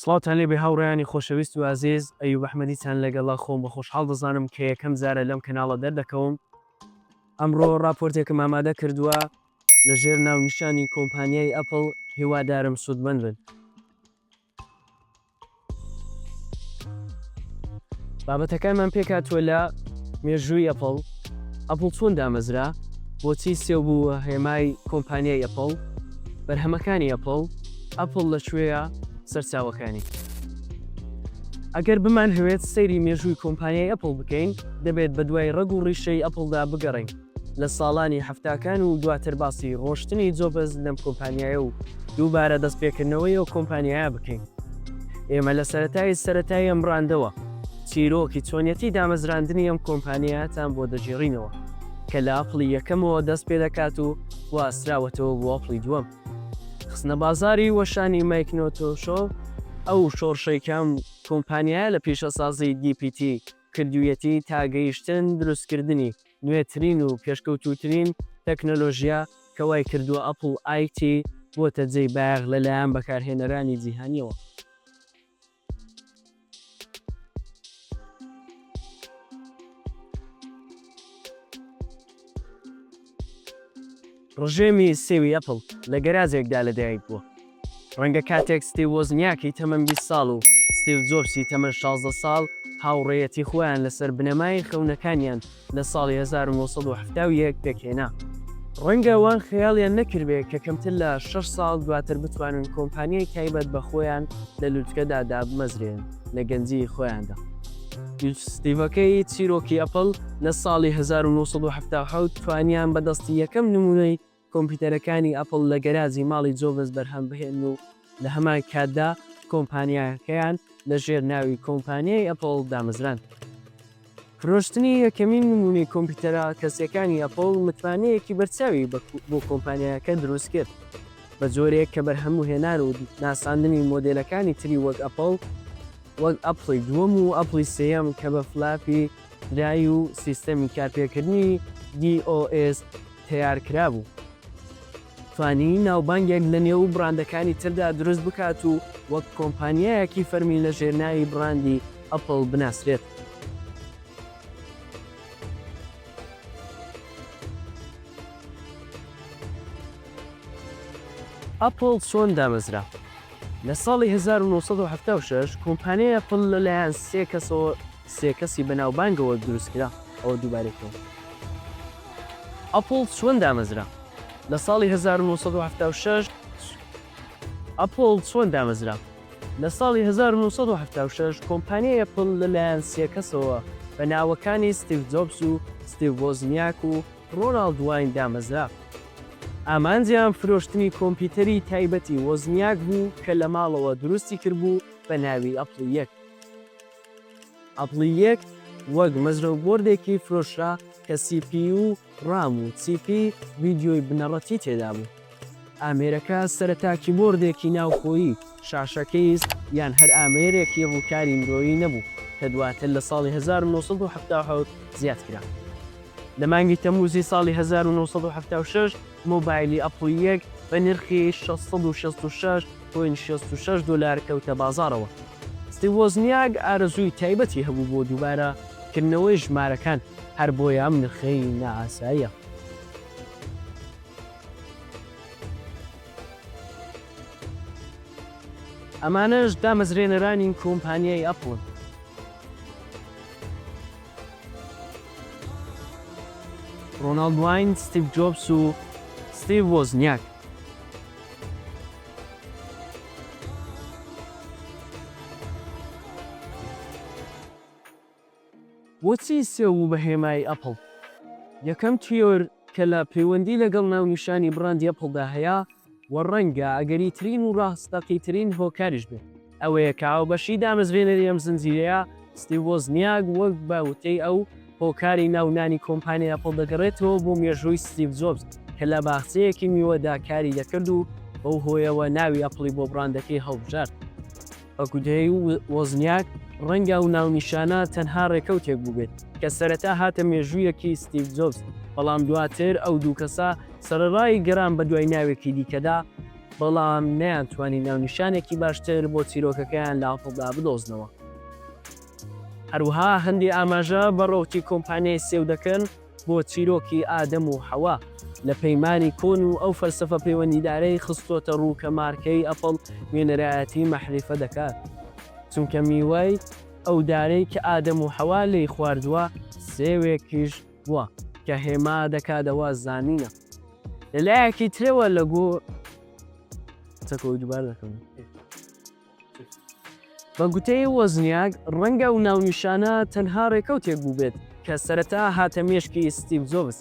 سڵاوتان لێبێ هاوڕێیانی خۆشەویست و ئازیز، ئەیوب ئەحمەدیتان لەگەڵە، خۆم بە خۆشحاڵ دەزانم کە یەکەم جارە لەم کەناڵە دەردەکەوم. ئەمڕۆ ڕاپۆرتێکم ئامادە کردووە لەژێر ناونیشانی کۆمپانیای ئەپڵ، هیوادارم سوودمەند بن. بابەتەکانمان پێکاتوە لە مێژووی ئەپڵ ئەپڵ چۆن دامەزرا بۆچی سێو بوو هێمای کۆمپانیای ئەپڵ بەرهەمەکانی ئەپڵ ئەپڵ لە کوێە سەرچاوەکانی ئەگەر بمان هەوێت سەیری مێژووی کۆمپانیای ئەپڵ بکەین دەبێت بە دوای ڕەگ و ڕیشەی ئەپڵدا بگەڕین لە ساڵانی حەفتاکان و دواتر باسی ڕۆشتنی جۆبز لەم کۆمپانیایە و دووبارە دەستپێکردنەوەی ئەو کۆمپانیایە بکەین. ئێمە لە سەرەتای سەرەتای ئەم بڕاندەوە چیرۆکی چۆنیەتی دامەزراندنی ئەم کۆمپانیایەتان بۆ دەگێڕینەوە کە لە ئەپڵی یەکەمەوە دەست پێ دەکات و گواستراوەتەوە بۆ ئەپڵی دووەم. خستنەبازاڕی وەشانی مایکنۆتۆشۆ ئەو شۆڕشەی کە ئەم کۆمپانیایە لە پیشەسازی دی پی تی کردوویەتی تا گەیشتن دروستکردنی نوێترین و پێشکەوتووترین تەکنەلۆژیا کە وای کردووە ئەپڵ ئای تی بۆتە جێی بایەخ لە لایەن بەکارهێنەرانی جیهانییەوە. ڕژێمی سێوی ئەپڵ لە گەراجێکدا لەدایک بووە، ڕەنگە کاتێک ستیو وۆزنیاکی تەمەن بیست ساڵ و ستیڤ جۆبسی تەمەن شازدە ساڵ هاوڕێیەتی خۆیان لەسەر بنەمای خەونەکانیان لە ساڵی هەزار و نۆ سەد و حەفتا و یەک پێکهێنا، ڕەنگە ئەوان خەیاڵیان نەکردبێ کە کەمتر لە شەش ساڵ دواتر بتوانن کۆمپانیای تایبەت بە خۆیان لە لوتکەدا دابمەزرێنن. لە گەنجیی خۆیاندا. ستیڤەکەی چیرۆکی ئەپڵ لە ساڵی هەزار و نۆ سەد و حەفتا و حەوت توانیان بە دەستی یەکەم نموونەی کۆمپیوتەرەکانی ئەپڵ لە گەراجی ماڵی جۆبز بەرهەم بهێنن و لە هەمان کاتدا کۆمپانیاکەیان لە ژێر ناوی کۆمپانیای ئەپڵ دامەزراند. فرۆشتنی یەکەمین نموونەی کۆمپیوتەرە کەسییەکانی ئەپڵ متمانەیەکی بەرچاوی بۆ کۆمپانیایەکە دروست کرد، بە جۆرێک کە بەرهەمهێنان و ناساندنی مۆدێلەکانی تری وەک ئەپڵ وەک ئەپڵی دووەم و ئەپڵی سێیەم کە بە فلاپی دراوی و سیستەمی کارپێکردنی دی ئۆ ئێس تەیار کرابوو. توانی ناوبانگێک لە نێو بڕاندەکانی تردا دروست بکات و وەک کۆمپانیایەکی فەرمی لە ژێرناوی بڕاندی ئەپڵ بناسرێت. ئەپڵ چۆن دامەزرا؟ لە ساڵی هەزار و نۆ سەد و حەفتا و شەش کۆمپانیای ئەپڵ لە لایەن سێ کەسەوە سێ کەسی بەناوبانگەوە دروست کرا. ئەوە دووبارەی کەوە. ئەپڵ چۆن دامەزرا؟ لە ساڵی هەزار و نۆ سەد و حەفتا و شەش ئەپڵ چۆن دامەزرا؟ لە ساڵی هەزار و نۆ سەد و حەفتا و شەش کۆمپانیای ئەپڵ لە لایەن سێ کەسەوە بە ناوەکانی ستیڤ جۆبس و ستیڤ وۆزنیاک و ڕۆناڵد واین دامەزرا. ئامانجیان فرۆشتنی کۆمپیوتەری تایبەتی وۆزنیاک بوو کە لە ماڵەوە دروستی کردبوو بە ناوی ئەپڵی یەک. ئەپڵی یەک وەک مەزرەو بۆردێکی فرۆشرا کە سی پی یو و ڕام و چیپی ڤیدیۆی بنەڕەتی تێدابوو. ئامێرەکە سەرەتا کیبۆردێکی ناوخۆیی، شاشە کەیس یان هەر ئامێرێکی ڕووکاری مرۆیی نەبوو کە دواتر لە ساڵی هەزار و نۆ سەد و حەفتا و حەوت زیادکرا. لە مانگی تەمووزی ساڵی هەزار و نۆ سەد و حەفتا و شەش مۆبایلی ئەپڵ یەک بە نرخی شەش سەد و شەست و شەش پوینت شەست و شەش دۆلار کەوتە بازاڕەوە. ستیڤ وۆزنیاک ئارەزووی تایبەتی هەبوو بۆ دووبارە کردنەوەی ژمارەکان، هەر بۆیە ئەم نرخەی نائاساییە. ئەمانەش دامەزرێنەرانی کۆمپانیای ئەپڵن. ڕۆناڵد واین، ستیڤ جۆبس و ستیڤ وۆزنیاک. بۆچی سێو بوو بە هێمای ئەپڵ؟ یەکەم تیۆر کە لە پەیوەندی لەگەڵ ناونیشانی بڕاندی ئەپڵدا هەیە، و ڕەنگە ئەگەریترین و ڕاستەقیترین هۆکاریش بێت ئەوەیە کە هاوبەشی دامەزرێنەری ئەم زنجیرەیە ستیڤ وۆزنیاک وەک بە وتەی ئەو هۆکاری ناو نانی کۆمپانیای ئەپڵ دەگەڕێتەوە بۆ مێژووی ستیڤ جۆبز کە لە باخچەیەکی میوەدا کاری دەکرد و بەو هۆیەوە ناوی ئەپڵی بۆ بڕاندەکەی هەڵبژارد. ئۆکودێی و وۆزنیاک، ڕەنگە ئەو ناونیشانە تەنها ڕێکەوتێک بووبێت کە سەرەتا هاتە مێژوویەکی ستیڤ جۆبز، بەڵام دواتر ئەو دوو کەسە سەرەڕای گەڕان بەدوای ناوێکی دیکەدا، بەڵام نەیانتوانی ناونیشانێکی باشتر بۆ چیرۆکەکەیان لە ئەپڵدا بدۆزنەوە. هەروەها هەندێ ئاماژە بە ڕەوتی کۆمپانیای سێو دەکەن بۆ چیرۆکی ئادەم و حەوا لە پەیمانی کۆن و ئەو فەلسەفە پەیوەندیدارەی خستۆتە ڕوو کە مارکەی ئەپڵ نوێنەرایەتی مەحریفە دەکات چونکە میوەی ئەو دارەی کە ئادەم و حەوا لێی خواردووە سێوێکیش بووە کە هێما دەکات ئەوە زانینە لە لایەکی ترەوە لە گۆ. بە گوتەی وۆزنیاک، ڕەنگە ئەو ناونیشانە تەنها ڕێکەوتێک بووبێت کە سەرەتا هاتە مێشکی ستیڤ جۆبز،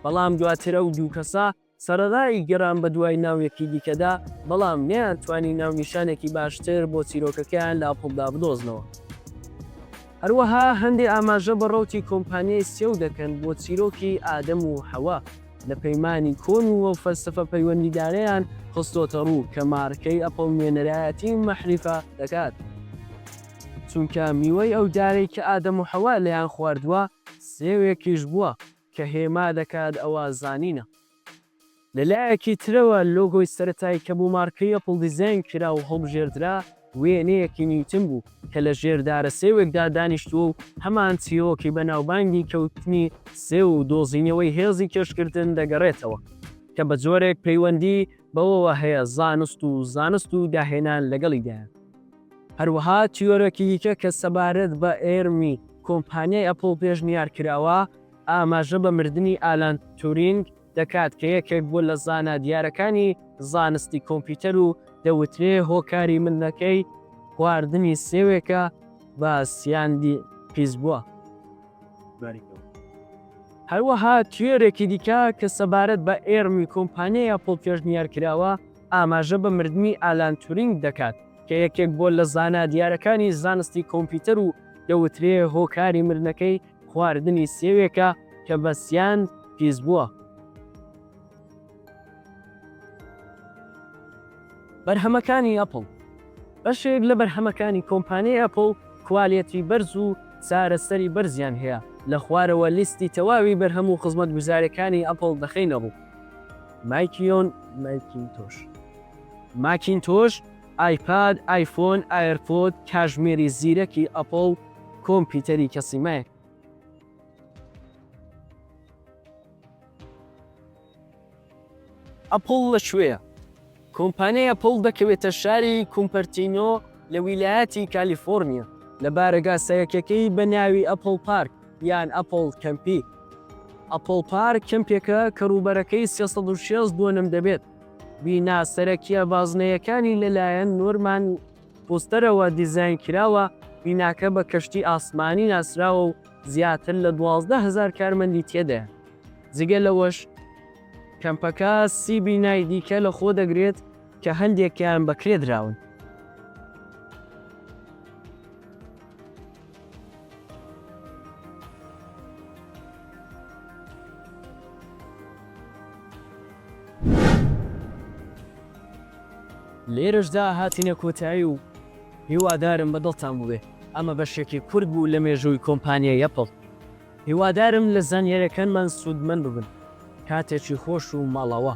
بەڵام دواتر ئەو دوو کەسە سەرەڕای گەڕان بەدوای ناوێکی دیکەدا، بەڵام نەیانتوانی ناونیشانێکی باشتر بۆ چیرۆکەکەیان لە ئەپڵدا بدۆزنەوە. هەروەها هەندێ ئاماژە بە ڕەوتی کۆمپانیای سێو دەکەن بۆ چیرۆکی ئادەم و حەوا. لە پەیمانی کۆن و ئەو فەلسەفە پەیوەندیدارەیان خستۆتەڕوو کە مارکەی ئەپڵ نوێنەرایەتی مەحریفە دەکات، چونکە میوەی ئەو دارەی کە ئادەم و حەوا لێیان خواردووە سێوێکیش بووە کە هێما دەکات ئەوە زانینە. لەلایەکی ترەوە لۆگۆی سەرەتایی کە بۆ مارکەی ئەپڵ دیزاین کرا و هەڵبژێردرا، وێنەیەکی نیوتن بوو کە لە ژێر دارە سێوێکدا دانیشتووە و هەمان چیرۆکی بەناوبانگی کەوتنی سێو و دۆزینەوەی هێزی کێشکردن دەگەڕێتەوە کە بە جۆرێک پەیوەندی بەوەوە هەیە زانست و زانست و داهێنان لەگەڵیدایە. هەروەها تیۆرێکی دیکە کە سەبارەت بە ئێرمی کۆمپانیای ئەپڵ پێشنیار کراوە، ئاماژە بە مردنی ئالان تورینگ، دەکات کە یەکێک بوو لە زانا دیارەکانی زانستی کۆمپیوتەر و دەوترێ هۆکاری ملەکەی خواردنی سێوێکە بە سیاندی پیس بووە. هەروەها تیۆرێکی دیکە کە سەبارەت بە ئێرمی کۆمپانیای ئەپڵ پێشنیار کراوە ئاماژە بە مردنی ئالان تورینگ دەکات کە یەکێک بووە لە زانا دیارەکانی زانستی کۆمپیوتەر و دەوترێ هۆکاری مردنەکەی خواردنی سێوێکە کە بەسیان پیسبووە. بەرهەمەکانی ئەپڵ، بەشێک لە بەرهەمەکانی کۆمپانیای ئەپڵ کوالێتی بەرز و چارەسەری بەرزیان هەیە، لە خوارەوە لیستی تەواوی بەرهەم و خزمەتگوزاریەکانی ئەپڵ دەخەینە ڕوو. مایکیۆن ماکینتۆش. ماکینتۆش ئایپاد، ئایفۆن، ئایرپۆد، کاژمێری زیرەکی ئەپڵ، کۆمپیوتەری کەسی مەک. ئەپڵ لە کوێیە؟ کۆمپانیای ئەپڵ دەکەوێتە شاری کومپەرتینۆ لە ویلایەتی کالیفۆرنیا، لە بارەگا سەرەکیەکەی بە ناوی ئەپڵ پارک یان ئەپڵ کەمپی. ئەپڵ پارک کەمپێکە کە ڕووبەرەکەی سێ سەد و شەست دۆنم دەبێت. بینا سەرەکییە بازنەیەکانی لەلایەن نۆرمان فۆستەرەوە دیزاین کراوە، بیناکە بە کەشتی ئاسمانی ناسراوە و زیاتر لە دوازدە هەزار کارمەندی تێدایە. جگە لەوەش کەمپەکە سی بینای دیکە لەخۆدەگرێت کە هەندێکیان بەکرێدراون. لێرەشدا هاتینە کۆتایی و هیوادارم بە دڵتان بووبێ ئەمە بەشێکی کورت بوو لە مێژووی کۆمپانیای ئەپڵ هیوادارم لە زانیاریەکانمان سوودمەند ببن کاتێکی خۆش و ماڵەوە.